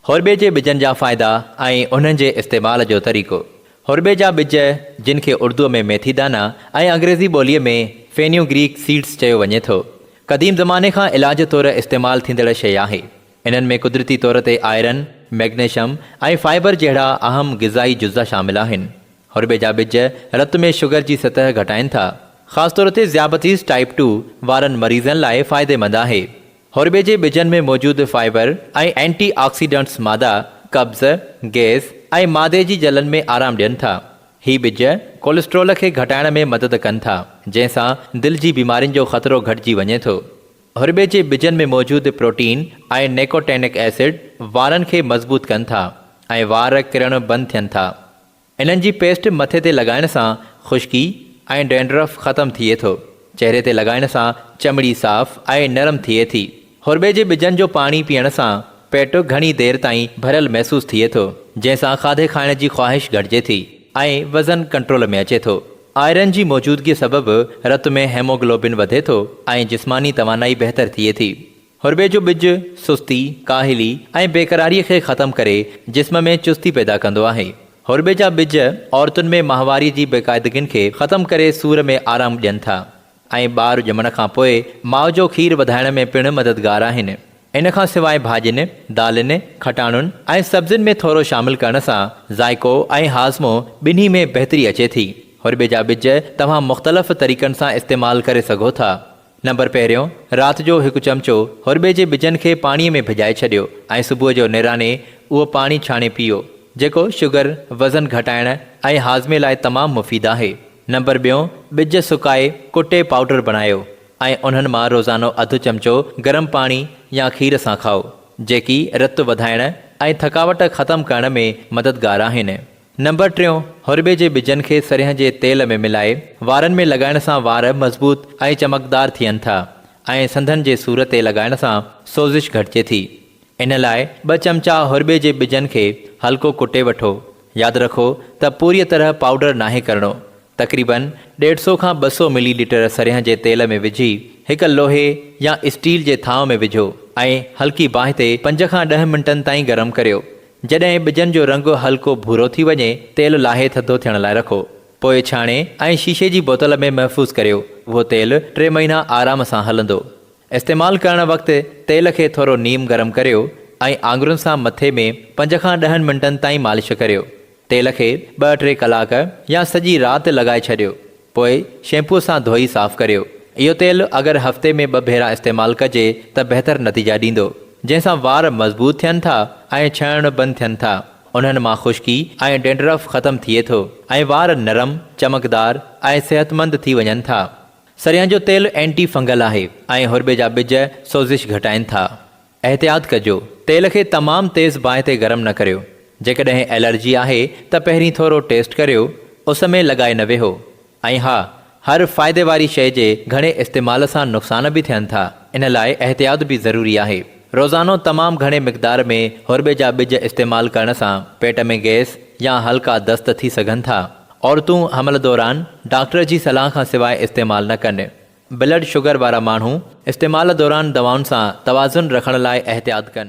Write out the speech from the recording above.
هورٻي جي ٻجن جا فائدا ۽ انهن جي استعمال جو طريقو. هورٻي جا ٻج، جن کي اردوء ۾ ميٿي دانا ۽ انگريزي ٻوليء ۾ Fenugreek Seeds چيو وڃي ٿو، قديم زماني کان علاج طور استعمال ٿيندڙ شيء آهي. انهن ۾ قدرتي طور تي آئرن، مئگنيشم ۽ فائبر جهڙا اهم غذائي جزا شامل آهن. هورٻي جا ٻج رت ۾ شگر جي سطح گهٽائين ٿا. خاص طور تي ذيابطيس ٽائيپ ٽو وارن مريضن لاء فائديمند آهي. هورٻي جي ٻجن ۾ موجود فائبر ۽ اينٽي آڪسيڊنٽس مادا قبض، گئس ۽ معدي جي جلن ۾ آرام ڏين ٿا. هي ٻج ڪولسٽرول کي گهٽائڻ ۾ مدد ڪن ٿا، جنهن سان دل جي بيمارين جو خطرو گهٽجي وڃي ٿو. هورٻي جي ٻجن ۾ موجود پروٽين ۽ نيڪوٽينڪ ايسڊ وارن کي مضبوط ڪن ٿا ۽ وار ڪرڻ بند ٿين ٿا. انهن جي پيسٽ مٿي تي لڳائڻ سان خشڪي ۽ ڊينڊرف ختم ٿئي ٿو. چهري تي لڳائڻ سان چمڙي صاف ۽ نرم ٿئي ٿي. هورٻي جي ٻجن جو پاڻي پيئڻ سان پيٽ گهڻي دير تائين ڀريل محسوس ٿئي ٿو، جنهن سان کاڌي کائڻ جي خواهش گهٽجي ٿي ۽ وزن ڪنٽرول ۾ اچي ٿو. آئرن جي موجودگي سبب رت ۾ هيموگلوبن وڌي ٿو ۽ جسماني توانائي بهتر ٿئي ٿي. هربي جو ٻج سستي، ڪاهلي ۽ بيقراريء کي ختم ڪري جسم ۾ چستي پيدا ڪندو آهي. هربي جا ٻج عورتن ۾ ماهواري جي بيقاعدگين کي ختم ڪري سور ۾ آرام ڏين ٿا ۽ ٻار ڄمڻ کان پوء ماء جو کير وڌائڻ ۾ پڻ مددگار آهن. ان کان سواء ڀاڄين، دالين، کٽاڻن ۽ سبزين ۾ ٿورو شامل ڪرڻ سان ذائقو ۽ هاضمو ٻنهي ۾ بهتري اچي ٿي. هربي جا ٻج توهان مختلف طريقن سان استعمال ڪري سگهو ٿا. نمبر پهريون، رات جو هڪ چمچو هرٻي جي ٻجن کي پاڻيء ۾ ڀڄائي ڇڏيو ۽ صبح جو نيراني اهو پاڻي ڇاڻي پيئو، جيڪو شگر، وزن گهٽائڻ ۽ هاضمي لاء تمام مفيد آهي. نمبر ٻيون، ٻج سڪائي ڪٽي پائوڊر بڻايو ۽ انهن مان روزانو اڌ چمچو گرم پاڻي يا کير سان کائو، جيڪي رت وڌائڻ ۽ ٿڪاوٽ ختم ڪرڻ ۾ مددگار آهن. نمبر ٽيون، هرٻي جي ٻجن کي سرهيه جي تيل ۾ ملائي وارن ۾ لڳائڻ سان وار مضبوط ۽ چمڪدار ٿين ٿا ۽ سنڌن جي سور تي لڳائڻ سان سوزش گهٽجي ٿي. ان لاء ٻه چمچا هرٻي جي ٻجن کي هلڪو ڪٽي وٺو. ياد رکو ته پوريء طرح پائوڊر ناهي ڪرڻو. تقريبن ڏيڍ سو کان ٻه سو ملي ليٽر سرهيه جي تيل ۾ وجهي هڪ لوهي يا اسٽيل جي ٿانء ۾ وجهو ۽ هلڪي باهه تي پنج کان ڏهه منٽن تائين گرم ڪريو. جڏهن ٻجن جو رنگ هلڪو ڀورو ٿي وڃي، تيل لاهي ٿڌو ٿيڻ لاء رکو. پوء ڇاڻي ۽ شيشي جي بوتل ۾ محفوظ ڪريو. اهو تيل ٽي مهينا آرام سان هلندو. استعمال ڪرڻ وقت تيل کي ٿورو نيم گرم ڪريو ۽ آڱرين سان مٿي ۾ پنج کان ڏهن منٽن تائين مالش ڪريو. تيل کي ٻه ٽي ڪلاڪ يا سڄي رات لڳائي ڇڏيو. پوء شيمپوء سان ڌوئي صاف ڪريو. اهو تيل اگر هفتي ۾ ٻه ڀيرا استعمال ڪجي ته بهتر نتيجا ڏيندو. جنهن سان وار مضبوط ٿين ٿا ۽ ڇڻڻ بند ٿين ٿا. انهن مان خشڪي ۽ ڊينڊرف ختم ٿئي ٿو ۽ وار نرم، چمڪدار ۽ صحتمند ٿي وڃن ٿا. سريان جو تيل اينٽي فنگل آهي ۽ هرٻي جا ٻج سوزش گهٽائين ٿا. احتياط ڪجو، تيل کي تمام تيز باهه تي گرم نه ڪريو، جيڪڏهن الرجي آهي ته پهرين ٿورو ٽيسٽ ڪريو، اس ۾ لڳائي نه ويهو ۽ ها هر فائدي واري شئي جي گهڻي استعمال سان نقصان به ٿين ٿا ان لاء احتياط به ضروري آهي، روزانو تمام گهڻي مقدار ۾ هورٻي جا ٻج استعمال ڪرڻ سان پيٽ ۾ گئس يا هلڪا دست ٿي سگهن ٿا، عورتون حمل دوران ڊاڪٽر جي صلاح کان سواء استعمال نه ڪن. بلڊ شگر وارا ماڻهو استعمال دوران دوائن سان توازن رکڻ لاء احتياط ڪن.